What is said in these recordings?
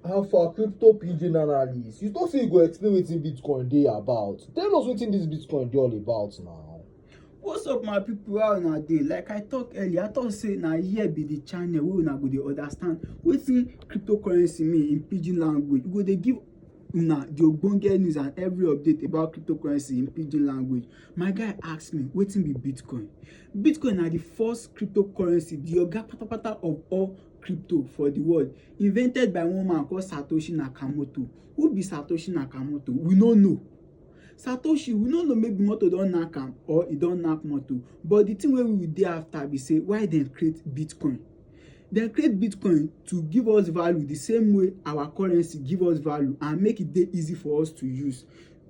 How far crypto pigeon analyst? You don't say you go explain wetin Bitcoin dey about. Tell us wetin this Bitcoin dey all about now. What's up my people how una dey? Like I talk earlier, I talk say na here be the channel wey una go dey understand wetin cryptocurrency mean in pidgin language. We go dey give una the ogbonge news and every update about cryptocurrency in pidgin language. My guy ask me wetin be Bitcoin? Bitcoin na the first cryptocurrency, the oga patapata of all crypto for the world invented by one man called satoshi nakamoto who be satoshi nakamoto we no know satoshi we no know maybe motor don knack am or e don knack motor but the thing wey we dey after be say why dem create bitcoin dem create bitcoin to give us value the same way our currency give us value and make e dey easy for us to use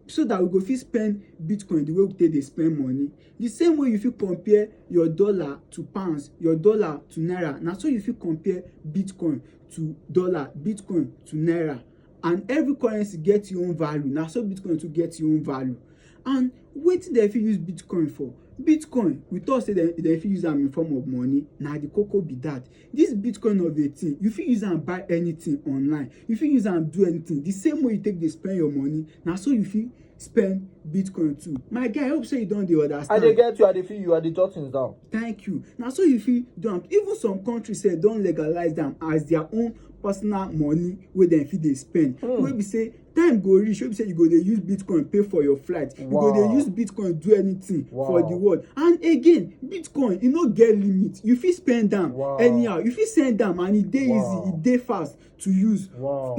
so that we go fit spend bitcoin the way we take dey spend money The same way you fit compare your dollar to pounds, your dollar to naira, na so you fit compare Bitcoin to dollar, Bitcoin to naira. And every currency get your own value, na so Bitcoin to get your own value. And wetin dem fit use Bitcoin for? Bitcoin, we talk say dem fit use am in form of money, na the koko be that. This Bitcoin of a thing, you fit use am buy anything online. You fit use am do anything. The same way you take dey spend your money, na so you fit spend Bitcoin too. My guy, I hope say you don dey understand. I dey get you, I dey feel you, I dey jot things down. Thank you. Na so you fit do am. Even some countries sef don legalize am as their own personal money wey dem fit dey spend. Mm. Wey be say time go reach wey be say you go dey use bitcoin pay for your flight you go dey use bitcoin do anything for the world and again bitcoin e no get limit you fit spend am anyhow you fit send am and e dey easy e dey fast to use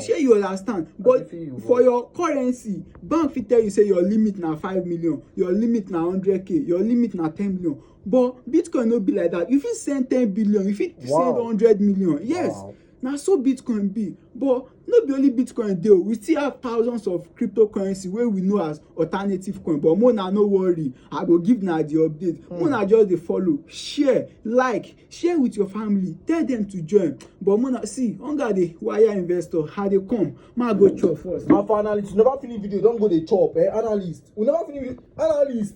shey you understand but for your currency bank fit tell you say your limit na five million your limit na hundred k your limit na ten million but bitcoin no be like that you fit send ten billion you fit send hundred million yes na so bitcoin be but no be only bitcoin dey o we still have thousands of cryptocurrency wey we know as alternative coin but mo na no worry i go give na the update mm. mo na just dey follow share like share with your family tell them to join but mo na see hunger dey wire investor i dey come ma go chop first. and for analyst you never finish video don go dey chop eh analyst you never finish analyst.